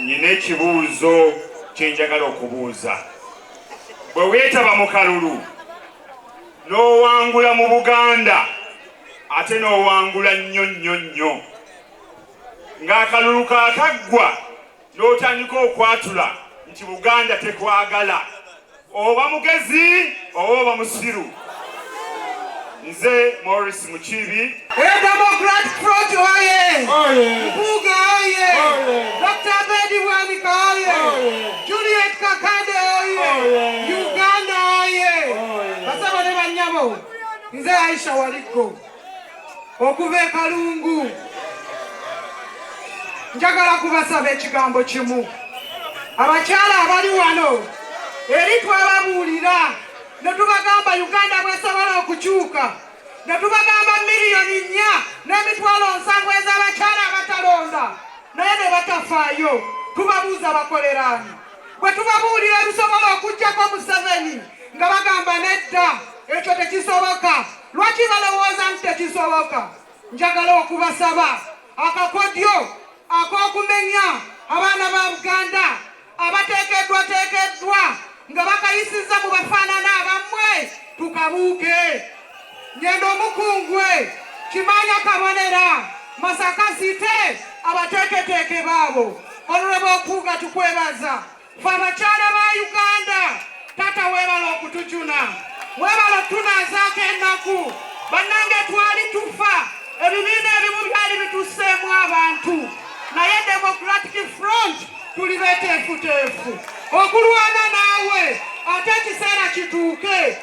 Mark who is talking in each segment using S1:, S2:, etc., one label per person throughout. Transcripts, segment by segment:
S1: Nina ekibuuzo kyenjagala okubuuza. Bwe weetaba mu kalulu n'owangula mu Buganda ate n'owangula nnyo nnyo nnyo, ng'akalulu kaakaggwa n'otandika okwatula nti Buganda tekwagala, oba mugezi oba oba musiru nze Morris Mukiibi Democrat
S2: Front oye Mpuuga oye Dr. Abedi Bwanika oye Juliet Kakande oye Uganda oye basaba ne bannyabo nze Aisha Waliggo okuva e Kalungu. Njagala kubasaba ekigambo kimu, abakyala abali wano eri twababuulira ne tubagamba Uganda bwesobola okukyuka ne tubagamba miliyoni nnya n'emitwalo nsanvu ez'abakyala abatalonda naye ne batafaayo tubabuuza bakoleraani bwe tubabuulira ebisobola okujjako museveni nga bagamba nedda ekyo tekisoboka lwaki balowooza nti tekisoboka njagala okubasaba akakodyo ak'okumenya abaana ba buganda abateekeddwateekeddwa nga bakayisiza mu bafaanana abammwe tukabuuke ngenda omukungwe kimanya kabonera masaka site abateeketeeke baabo olulaba okuuga tukwebaza fe abakyala ba uganda taata weebala okutujuna weebala okutunazaako ennaku bannange twali tufa ebibiina ebimu byali bituseemu abantu naye democratic front tuli beteefuteefu okulwana naawe ate ekiseera kituuke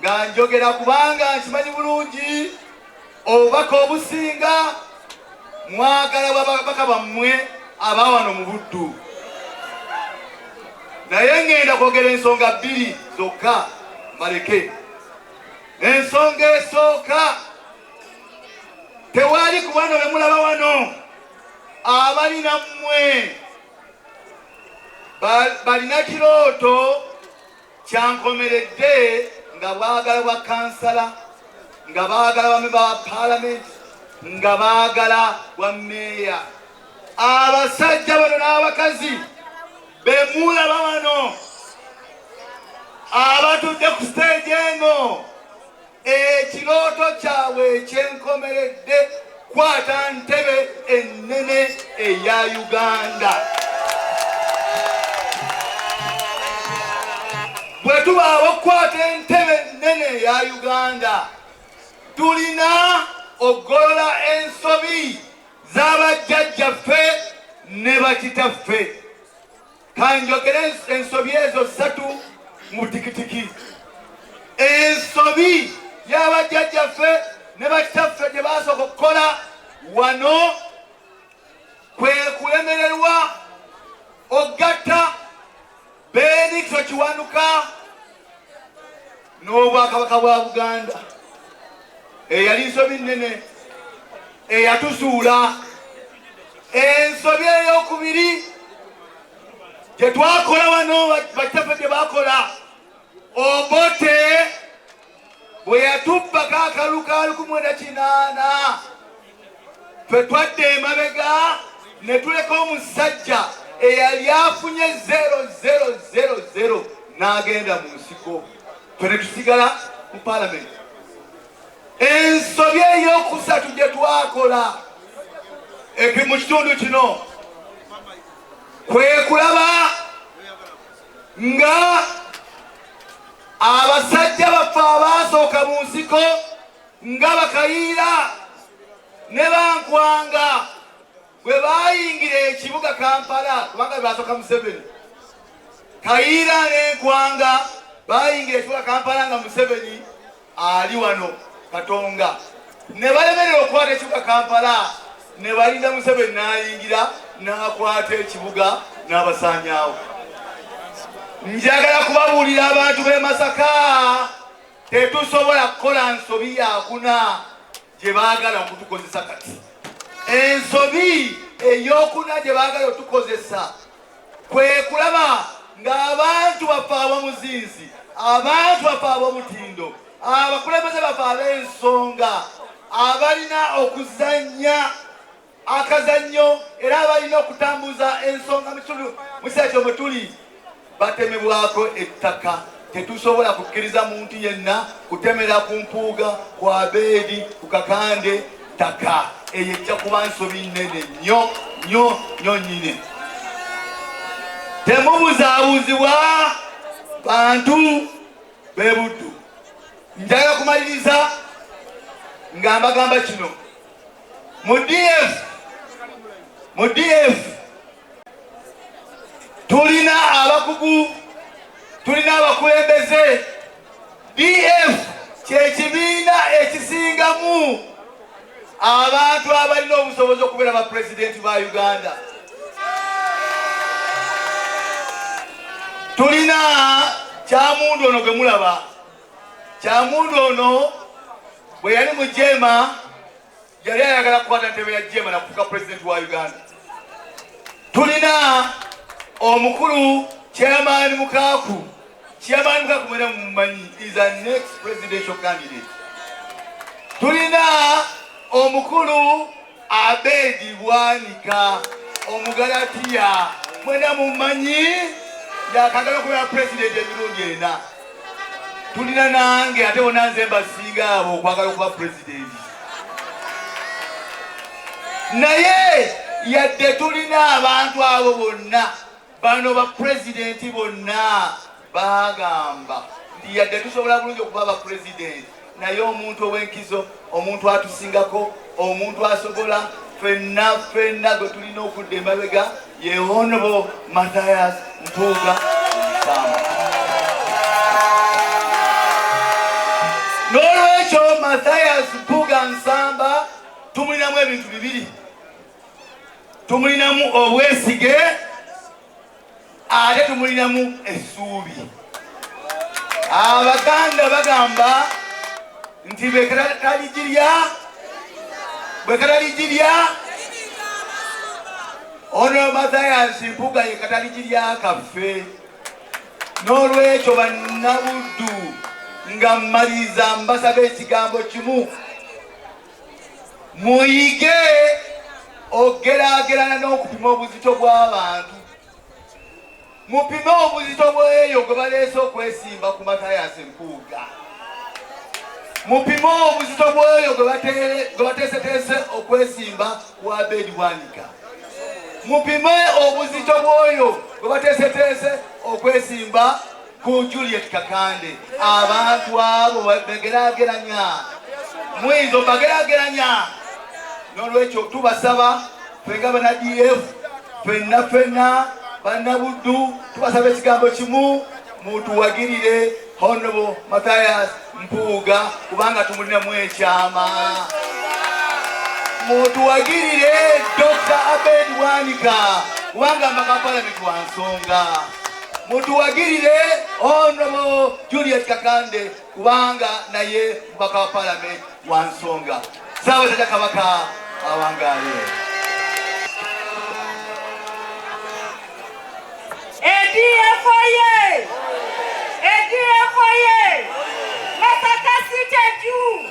S3: nga njogera kubanga nkimanyi bulungi obubaka obusinga mwagala babaka bammwe aba wano mu buddu naye ŋŋenda kwogera ensonga bbiri zokka mbaleke ensonga esooka tewali ku bano be mulaba wano abali nammwe balina kirooto Kyankomeredde nga baagala bwa kansala, nga baagala bame ba palamenti, nga baagala bwa meeya. Abasajja bano n'abakazi bemuulaba wano abatudde ku siteegi eno Ekirooto kyabwe ekyenkomeredde kwata ntebe ennene eya Uganda. Bwe tubaawo okukwata entebe ennene eya Uganda, tulina okugolola ensobi z'abajjajjaffe ne bakitaffe. kanjogere ensobi ezo ssatu mu butikitiki ensobi yabajjajjaffe ne bakitaffe gye basooka okukola wano kwe kulemererwa ogatta benikyo kiwanuka n'obwakabaka bwa buganda eyali nsobi nnene eyatusuula ensobi eyokubiri gyetwakola wano bakitaffe gye bakola obote bwe yatubbako akalukaluku mwenda kinaana Ffe twadda emabega ne tuleka omusajja eyali afunye 0000 n'agenda mu nsiko ffe ne tusigala mu palamenti. Ensobi ey'okusatu gye twakola epi mu kitundu kino kwe kulaba nga abasajja baffe abaasooka mu nsiko nga Bakayiira ne Bankwanga bwe baayingira ekibuga Kampala kubanga baasoka Museveni. Kayiira n'enkwanga baayingira ekibuga Kampala nga Museveni ali wano Katonga, ne balemerera okukwata ekibuga Kampala ne balinda Museveni n'ayingira n'akwata ekibuga n'abasaanyaawo. Njagala kubabuulira abantu b'e Masaka. Tetusobola kukola nsobi yakuna gye baagala okutukozesa kati. Ensobi eyokuna gye baagala otukozesa kwe kulaba ng'abantu baffe ab'omuzinzi, abantu baffe ab'omutindo, abakulembeze baffe ab'ensonga abalina okuzannya akazannyo era abalina okutambuza ensonga mukitundu museeto mwe tuli batemebwako ettaka tetusobola kukkiriza muntu yenna kutemera ku mpuuga ku abeedi ku kakande ttaka eyo ejja kuba nsobi nene nyo nyo nyo nyine temubuzaabuzibwa bantu bebuddu njagala kumaliriza nga mbagamba kino mu DF mu DF tulina abakugu tulina abakulembeze DF kyekibiina ekisingamu abantu abalina obusobozi okubeera ba pulezidenti ba Uganda tulina kyamundu ono gwe mulaba kyamundu ono bwe yali mu jeema yali ayagala kukwata ntebe ya jeema nakufuka pulezidenti wa uganda tulina omukulu kyamaani mukaaku kyamaani mukaaku mwena mumanyi is a next presidential candidate tulina omukulu Abedi Bwanika Omugalatiya mwena mumanyi yakagala okubeera pulezidenti emirundi ena tulina nange ate bona nze mbasinga abo okwagala okuba pulezidenti naye yadde tulina abantu abo bonna Bano ba president bonna bagamba nti yadde tusobola bulungi okuba ba president naye omuntu ow'enkizo omuntu atusingako omuntu asobola fenna fenna gwe tulina okudda emabega yehonobo mathias mpuuga n'olwekyo mathias mpuuga nsamba tumulinamu ebintu bibiri tumulinamu obwesige ate tumulinamu essuubi abaganda bagamba nti bwekataligirya bwekataligirya ono mathayansi mpuga yekataligirya kaffe n'olwekyo bannabuddu nga mmaliriza mbasaba ekigambo kimu Muyige okugeraagerana n'okupima obuzito bw'abantu. Mupime obuzito bw'eyo gwe baleese okwesimba ku Matayasi Mpuuga. Mupime obuzito bw'oyo gwe bateeseteese okwesimba ku Abed Bwanika. Mupime obuzito bw'oyo gwe bateeseteese okwesimba ku Juliet Kakande abantu abo begerageranya muyinza obagerageranya nolwekyo tubasaba fenga bana df fenna fenna banabuddu tubasaba ekigambo kimu mutuwagirire honobo mathias mpuuga kubanga tumulinamu ekyama mutuwagirire dr abed wanika kubanga mbakapalamiti wansonga mutuwagirire honobo Juliet Kakande kubanga naye mubaka wa palamenti wa nsonga Ssaabasajja Kabaka awangaale. ADF
S2: oye! ADF oye! Masaka City juu!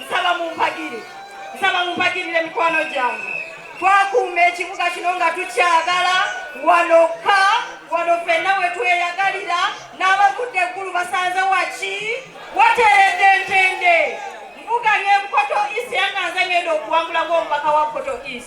S2: nsaba mumpagire nsaba mumpagirire mikwano gyange twakuuma ekibuga kino nga tukyagala wanoka wano fenna wetweyagalira n'abavudde eggulu basanze waki wateredde ntende mvuganye bukoto is yanganze ngenda okuwangula ng'omubaka wa koto is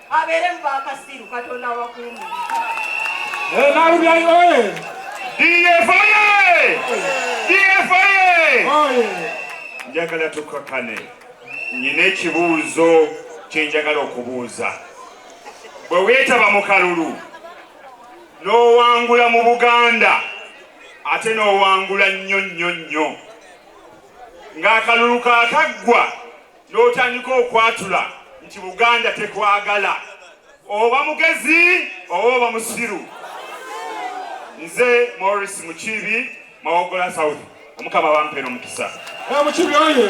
S2: Abeere
S4: mu bakasiru Katonda abakuume. Nalubyayi oye! DF
S1: oye! DF oye! Njagala tukakane. Nyina ekibuuzo kye njagala okubuuza. Bwe weetaba mu kalulu n'owangula mu Buganda ate n'owangula nnyo nnyo nnyo ng'akalulu kaakaggwa n'otandika okwatula nti buganda tekwagala oba mugezi oba oba musiru nze morris mukiibi mawogola
S4: south
S1: omukama bampera omukisa mukibi oye